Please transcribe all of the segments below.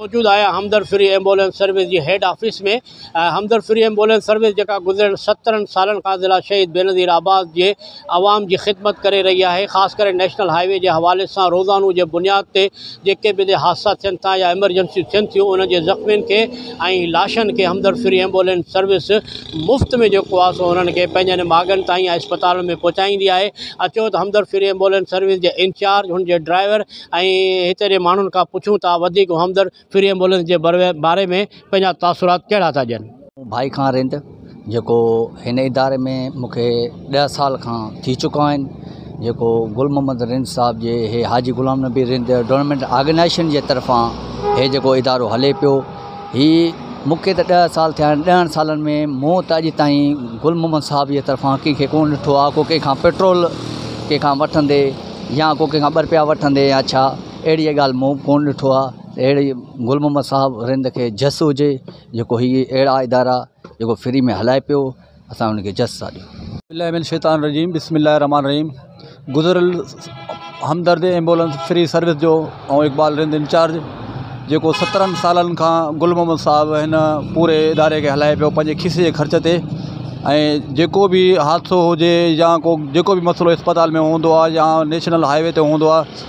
موجود آهيان Hamdard free ambulance service جي head office ۾ Hamdard free ambulance service جيڪا گذريل سترهن سالن کان ضلع شهيد بينظير آباد جي عوام جي خدمت ڪري رهي آهي خاص ڪري نيشنل هاء وي جي حوالي سان روزانو جي بنياد تي جيڪي به هتي حادثا ٿين ٿا يا ايمرجنسيون ٿين ٿيون انهن جي زخمين کي ۽ لاشن کي همدرد فري ايمبولينس سروس مفت ۾ جيڪو آهي سو انهن کي پنهنجن ماڳن تائين يا اسپتالن ۾ پهچائيندي آهي اچو ته همدرد فري ايمبولينس سروس جي انچارج هن جي ڊرائيور ۽ هتي جي ماڻهن کان پڇون ٿا وڌيڪ همدرد فري ايمبولينس جي باري ۾ پنهنجا تاثرات ڪهڙا ٿا ڏين؟ مون ڀائي کان رند جيڪو هن اداري ۾ مونکي ڏهه سال کان ٿي چڪا آهن جيڪو گل محمد رند صاحب جي هي حاجي غلام نبي رند ڊونمينٽ آرگنائيشن جي طرفان هي جيڪو ادارو هلي پيو هي مونکي ته ڏهه سال ٿيا آهن ڏهن سالن ۾ مون ته اڄ تائين گل محمد صاحب جي طرفان ڪنهن کي ڪون ڏٺو آهي ڪو ڪنهن کان پيٽرول ڪنهن کان وٺندي يا ڪو ڪنهن کان ٻه روپيا وٺندي يا ڇا اهڙي ڳالهه مون ڪون ڏٺو آهي اهڙي ئي گل محمد صاحب رند کي جس هجي جيڪو هي اهڙا ادارا جيڪو فري ۾ هلائي پيو اسان ان کي جس ٿا ڏيون. بالله من الشيطان الرجيم بسم الله الرحمٰن الرحيم گذريل همدرد ايمبولنس فري سروس جو ۽ اقبال رند انچارج جيڪو سترهن سالن کان گل محمد صاحب هن پوري اداري کي هلائي پيو پنهنجي کيسي جي خرچ تي ۽ جيڪو به حادثو هجي يا ڪو جيڪو به مسئلو اسپتال ۾ هوندو آهي يا نيشنل هاء وي تي هوندو آهي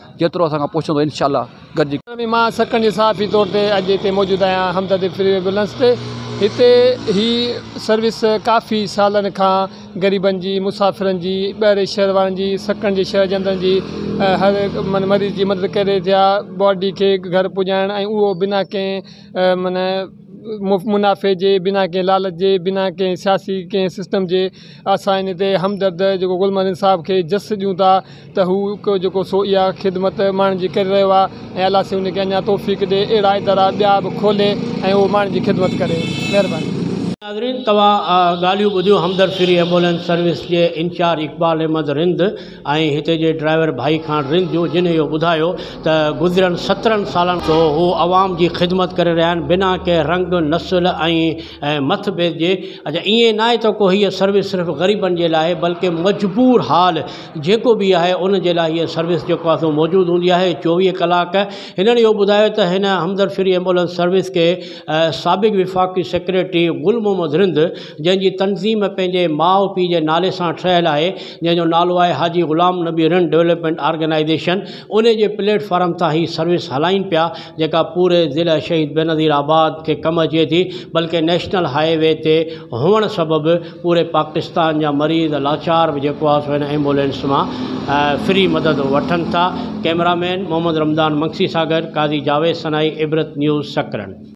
جيترو اسان کان پهچندو انشاء الله گڏجي ڪريون. مان سڪن جي صحافي طور تي اڄ هتي موجود آهيان همدردي فري وي گلنس تي هتي هي سروس ڪافي سالن کان غريبن جي مسافرن جي ٻاهرين شهر وارن جي سڪن جي شهر جي اندرن جي هر مريض جي مدد ڪري رهي ٿيا باڊي کي گهر پڄائڻ ۽ اهو بنا ڪنهن من منافعي جي بنا ڪنهن لالچ جي بنا ڪنهن سياسي ڪنهن سسٽم جي اسان ان تي همدرد جيڪو گل محمد انصاف کي جس ڏيون ٿا ته هو هڪ جيڪو سو اها خدمت ماڻهن جي ڪري رهيو آهي ۽ الله سي ان کي اڃان توفيق ڏي اهڙا ادارا ٻيا به کولي ۽ اهو ماڻهن جي خدمت ڪري مهرباني. ناظرين توهان ڳالهيون ٻڌيون همدرد فري ايمبولينس سروس جي انچارج اقبال احمد رند ۽ هتي جي ڊرائيور ڀائي خان رند جون جن اهو ٻڌايو ته گذريل سترهن سالن کان هو عوام جي خدمت ڪري رهيا آهن بنا ڪنهن رنگ نسل ۽ ۽ مٿ بيس جي اچا ائين ناهي ته ڪو هيء سروس صرف غريبن جي لاء آهي بلڪه مجبور حال جيڪو به آهي ان جي لاء هيء سروس جيڪو آهي سو موجود هوندي آهي چوويهه ڪلاڪ هنن اهو ٻڌايو ته هن همدرد فري ايمبولنس سروس کي سابق وفاقي سيڪريٽري گل محمد رند جنهن جي تنظيم پنهنجي ماء پيء جي نالي سان ٺهيل آهي جنهن جو نالو آهي حاجي غلام نبي رند ڊولپمينٽ آرگنائيزيشن ان جي پليٽ فارم تان هي سروس هلائين پيا جيڪا پوري ضلع شهيد بينظير آباد کي ڪم اچي ٿي بلڪه نيشنل هاء وي تي هئڻ سبب پوري پاڪستان جا مريض لاچار به جيڪو آهي سو هن ايمبولينس مان فري مدد وٺن ٿا ڪيمرا مين محمد رمضان منگسي سان گڏ قاضي جاويد سنائي عبرت نيوز سڪرنڊ.